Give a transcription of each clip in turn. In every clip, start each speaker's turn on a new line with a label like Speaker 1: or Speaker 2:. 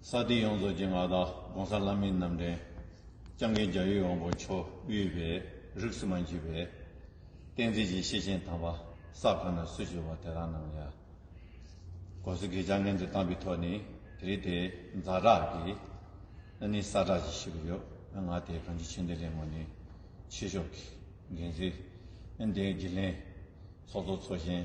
Speaker 1: ས་སྟེང་ཡོངས་རྫོགས་ཀྱི་མངའ་བདག ྋགོང་ས་ལྷ་མིའི་རྣམ་འདྲེན། ལྕང་སྐྱ་རྒྱ་ཡི་དབང་པོ་མཆོག་དབུས་པའི་རིགས་སུ་མ་འཁྱུད་པས། བསྟན་འཛིན་གྱི་ཤེས་ཆེན་དམ་པ་ས་གང་ན་སུ་བྱོལ་བ་དེ་རང་རྣམས་ཡར ྋགོང་ས ྋསྐྱབས་རྒན་དུ་བཏང་པའི་ཐོག་ནས་དེ་རིང་དེ་མཛའ་གྲགས་ཀྱི་ཨ་ནི་ས་གྲགས་ཀྱི་ཞིག་ཡོད་ང་དེ་གང་ཅི་ཆོས་འདི་ལས་ངོ་ནས་ཕྱི་ཕྱོགས་ཀྱི་འགན་འཛིན་ཨ་འདི་དགེ་ལེན་ཚོགས་གཙོ་ཚོགས་ཆེན།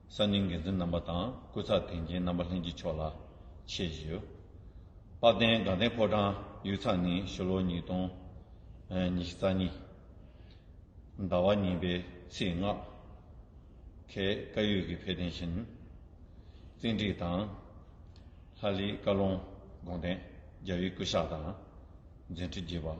Speaker 1: གསར་རྙིང་འགན་འཛིན་རྣམ་པ་དང་སྐུ་ཚབ་དེ་མཁྱེན་རྣམ་པ་ལྷན་གྱིས་མཆོག་ལ་ཆེད་བཞེས། དཔའ་བརྟན་དགའ་ལྡན་ཕོ་བྲང་ཡུལ་ཚང་ནི་ཕྱི་ལོ་ཉིས་སྟོང་ཉི་ཤུ་རྩ་གཉིས་ཟླ་བ་གཉིས་པའི་ཚེས་ལྔ་ཁའི་བཀའ་ཡོད་ཀྱི་འཕེལ་རྟེན་ཤིན་རྩིས་འགྲིག་དང། ལྷ་ལི་བཀའ་ལུང་དགོངས་ལྡན་རྒྱ་བི་སྐུ་ཤག་དང་འཛིན་ཁྲི་བརྒྱད་པ།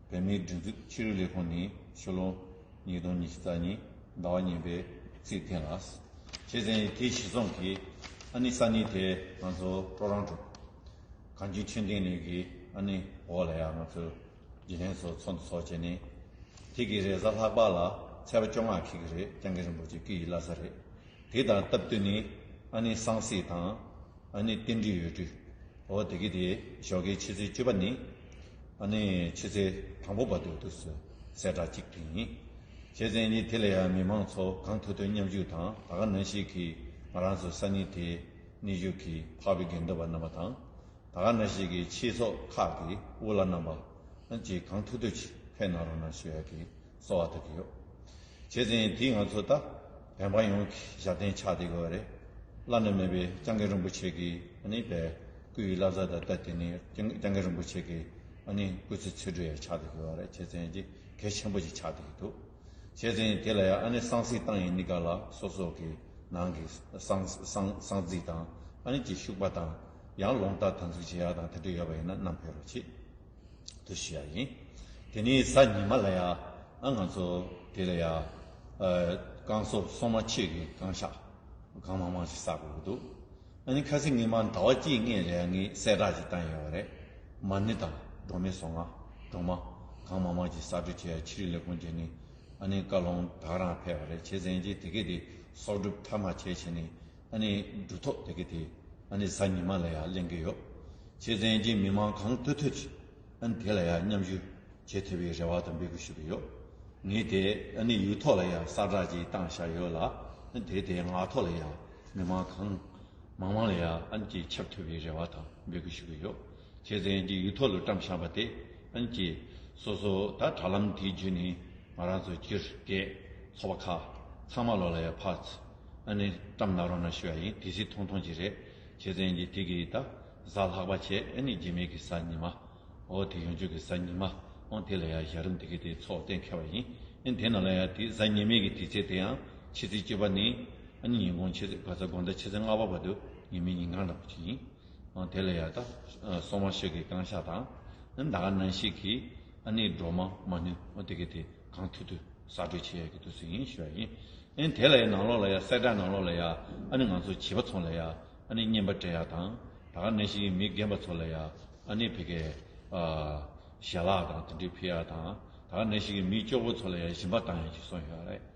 Speaker 1: བོད་མིའི་སྒྲིག་འཛུགས་ཕྱི་རོལ་ལས་ཁུངས་ནས་ཕྱི་ལོ་ཉིས་སྟོང་ཉི་ཤུ་རྩ་གཉིས་ཟླ་བ་གཉིས་པའི་ཚེས་ཐེངས་ལ་བྱས་ཙང་ཡི་གེའི་གཞི་རྩོམ་གྱི་ཨ་ནི་ས་ནི་དེ་ང་ཚོ་སྤྲོ་རང་གྲུབ། གངས་ཅན་ཆོས་ལྡན་ལུས་ཀྱི་ཨ་ནི་འོག་ལ་ཡང་ང་ཚོས་དགེ་ལྷན་ཚོ་ཚོགས་འདུ་ཚོགས་བྱས་ནས་ཐིག་གི་རེས་གཟའ་ལྷག་པ་ལ་ཚད་པ་བཅོ་ལྔ་ཁེགས་གི་རེད་རྐྱང་གི་རིན་པོ་ཆེ་སྐུ་ཡི་བླ་ས་རེད། དེ་དང་སྟབས་བསྟུན་ནས་ཨ་ནེ་སངས་སེ་དང་ཨ་ནེ་བསྟན་འགྲིག་ཡོད་དུས་འོ་དེ་གི་དེ་ཞོགས་ཀའི་ཕྱི་ཚེས་བཅུ་པ་ནི་ཨ་ནེ་ཕྱི་ཚེས་དང་པོ་བར་དུ་དུས་སུ་གསལ་བསྒྲགས་གཅིག་དེ་ཡིན། བྱས་ཙན་གྱིས་དེ་ལ་ཡང་མི་མང་ཚོ་གང་ཐུབ་ཐུབ་མཉམ་ཞུགས་དང་ད་ག་ནང་ཞིག་གིས་ང་རང་ཚོའི་ས་སྣེ་དེ་གནས་བཞུགས་ཀྱི་འཕགས་པའི་དགེ་འདུན་པ་རྣམ་པ་དང་ད་ག་ན་ཞིག་གི་ཕྱིའི་ཚོགས་ཁག་གི་དབུ་བླ་རྣམ་པ་གང་ཅིག་གང་ཐུབ་ཐུབ་ཅིག་ཕེབས་གནང་རོགས་གནང་ཞུ་ཡག་གི་གསོ་བ་ཐུབ་ཀྱི་ཡོད། བྱས་ཙང་དེས་ང་ཚོ་ལྟ་བན་པ་ཡོངས་ཀྱི་ཞབས་བརྟན་ཆགས་བསྡད་དགོས་པ་རེད། བླ་ན་མེད་པའི་སྤྱང་ཀི་རིན་པོ་ཆེ་གིས་ནི་བལ་སྐུ་ཡི་བླ་གཟའ་ལྟར་བལྟ་དེ་ནི་སྤྱང་ཀི་རིན་པོ་ཆེ་གིས་ནི་སྐུ་ཚེ་ཚུར་སྦྲེལ་ཡང་ཆགས་བསྡད་དགོས་པ་རེད་བྱས་ཙང་ཀྱི་གལ་ཆེན་པོ་ཞིག་ཆགས་བསྡད་ཀྱི་འདུག་བྱས་ཙང་དེ་ལ་ཡང་ནི་སང་སྲིད་བཏང་ཡིན་ནི་ག་ལ་སོ་སོ་གི་ནང་གི་སང་རྩིས་དང་ནི་ཀྱི་ཤུག་པ་དང་ཡང་ལོང་རྟ་དང་ཚུགས་བྱེད་ཡག་དང་དེ་འདྲ་ཡོད་པ་ཡིན་ན་ནམ་ཕེ་རོ་ཆེ། དུ་ཞུ་བ་ཡིན། དེ་ནས་གཟའ་ཉི་མ་ལ་ཡང་ང་ཚོ་དེ་ལ་ཡང་རྐང་སོར་སོ་མ་ཕྱེད་ཀྱི་རྐང་ཤ་གང་མང་མང་ཞིག་བསག་དགོས་ཀྱི་འདུག་ཨ་ནི་ཁ་སི་ངེད་མ་ཟླ་བ་གཅིག་ལྔའི་རེ་ངས་གསལ་བསྒྲགས་ཅིག་བཏང་ཡོད་བ་རེད། མ་ནི་དང་འབྲོག་མི་སོ་ང་འབྲོག་མ་གང་མང་མང་ཞིག་གསར་འབྲི་བྱས་ཡ་ཕྱི་རི་ལས་ཁུང་བྱས་ནས་ཨ་ནི་བཀའ་ལུང་དག་རང་ཕེབས་བ་རེད་བྱས་ཟིན་རྗེས་དེ་གས་དེ་གསོག་སྒྲུབ་མཐའ་མ་བྱས་ཕྱིན་ནས་ཨ་ནི་འབྲུ་ཐོག་དེ་གི་དེ་ཨ་ནི་གཟའ་ཉི་མ་ལ་ཡ་གླེང་གི་ཡོད། ཆེ་བཙན་གྱི་མི་མང་གང་ཐོད་ཐོད་ཅིག་ཨ་ནི་དེ་ལ་ཡ་མཉམ་ཞུ་བྱེད་ཐུབ་པའི་རེ་བ་དང་འབད་གུས་ཞུ་གི་ཡོད། ངས་དེ་ཨ་ནི་ཡུལ་ཐོག་ལ་ཡ་གསར་བསྒྲགས་ཅིག་བཏང་བཞག་ཡོད་ལ་ཨ་ནི་དེ་དེ་ང་ཐོག་ལ་ཡ་མི་མང་གང་མང་མང་ལ་ཡ་ཨ་ནི་ཅིག་ཁྱབ་ཐུབ་པའི་རེ་བ་དང་འབད་གུས་ཞུ་གི་ཡོད། ཁྱེད་ཚན་གྱི་ཡུལ་ཐོག་ལ་བཀྲམ་བཞག་པ་དེ་ཨང་ཀི། སོ་སོ་ད་དྲ་ལམ་དེའི་རྒྱུད་ནས་ང་རང་ཚོ་སྤྱིར་སྐད་ཚོགས་པ་ཁག་ཚང་མ་ལོ་ལ་ཡར་ཕར་ཚ་ནས་བཀྲམ་གནང་རོགས་གནང་ཞུ་བ་ཡིན་དེ་སྲིད་ཐོང་ཐོང་ཅིག་རེད་ཁྱེད་ཚན་གྱི་དེ་གི་ད་གཟའ་ལྷག་པ་བྱས་ཨ་ནི་རྗེས་མེད་གི་གཟའ་ཉི་མ་འོ་དེ་ཡོང་རྒྱུ་གི་གཟའ་ཉི་མ་འོང་དེ་ལ་ཡར་ཞག་རིམ་དེ་གི་དེ་ཚོགས་གཏན་འཁེལ་བ་ཡིན་ཨིན་དེ་ན་ལ་ཡར་དེ་གཟའ་ཉི་མའི་གི་དེ་ཚེ་དེ་ཡང་ཕྱི་ཚེ་བཅུ་པ་ནི་ཨ་ནི་ཉིན་གུང་ཕྱི་ཚེ་ག་ཚ་དགོང་ཟླ་ཕྱི་ཚེ་ལྔ་པ་བར་དུ་ཉིན་མི་ཉིན་གང་འདྲ་པོ་ཅིག་ཡིན། དེ་ལ་ཡང་དག་སོང་བ་ཞིག་གི་རྐང་ཤ་དང། ཟླ་ག་ནན་ཞིག་གིས་ཨ་ནེའི་སྒྲོལ་མ་མ་ནུས་དེ་གས་དེ་གང་ཐུབ་ཐུབ་གསར་སྤྲོད་བྱེད་ཡག་གི་འདུག་ཟེར་ཡིན་ཞུ་བ་ཡིན། དེ་ལ་ཡང་ནང་ལོགས་ལ་ཡང་གསལ་བསྒྲགས་ནང་ལོགས་ལ་ཡང་ཨ་ནེ་ང་ཚོ་བྱིས་པ་ཚོང་ལ་ཡང་ཨ་ནེ་བརྙན་པར་སྤྲད་ཡག་དང། ཟླ་ག་ནན་ཞིག་གིས་མི་རྒན་པ་ཚོ་ལ་ཡང་ཨ་ནེ་བྷེ་གས་ཞལ་ལག་དང་དེ་འདྲས་ཕུལ་ཡག་དང། ཟླ་ག་ནན་ཞིག་གིས་མི་སྐྱོ་བོ་ཚོ་ལ་ཡང་ཞིམ་པ་བཏང་ཡག་ཅིག་སོང་ཡོད་རེད།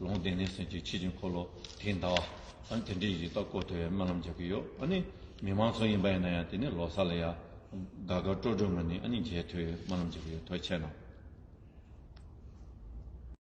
Speaker 1: ལུང་བསྟན་ནི་སེམས་ཀྱི་ཆེ་ཆུང་འཁོར་ལོ་དེ་འདའ་བ། དེ་འདྲའི་ཡི་དྭགས་བསྐོར་ཐལ་བའི་སྨོན་ལམ་རྒྱག་གི་ཡོད། ཨ་ནི་མི་མང་ཚོགས་ཡིན་པ་ཡིན་ན་ཡང་དེ་ནི་ལོ་སར་ལ་ཡ། དགའ་དགའ་སྤྲོ་སྤྲོ་ངང་ནས་ཨ་ནི་མཇལ་ཐུལ་བའི་སྨོན་ལམ་རྒྱག་གི་ཡོད་དོ་ཆད་ན།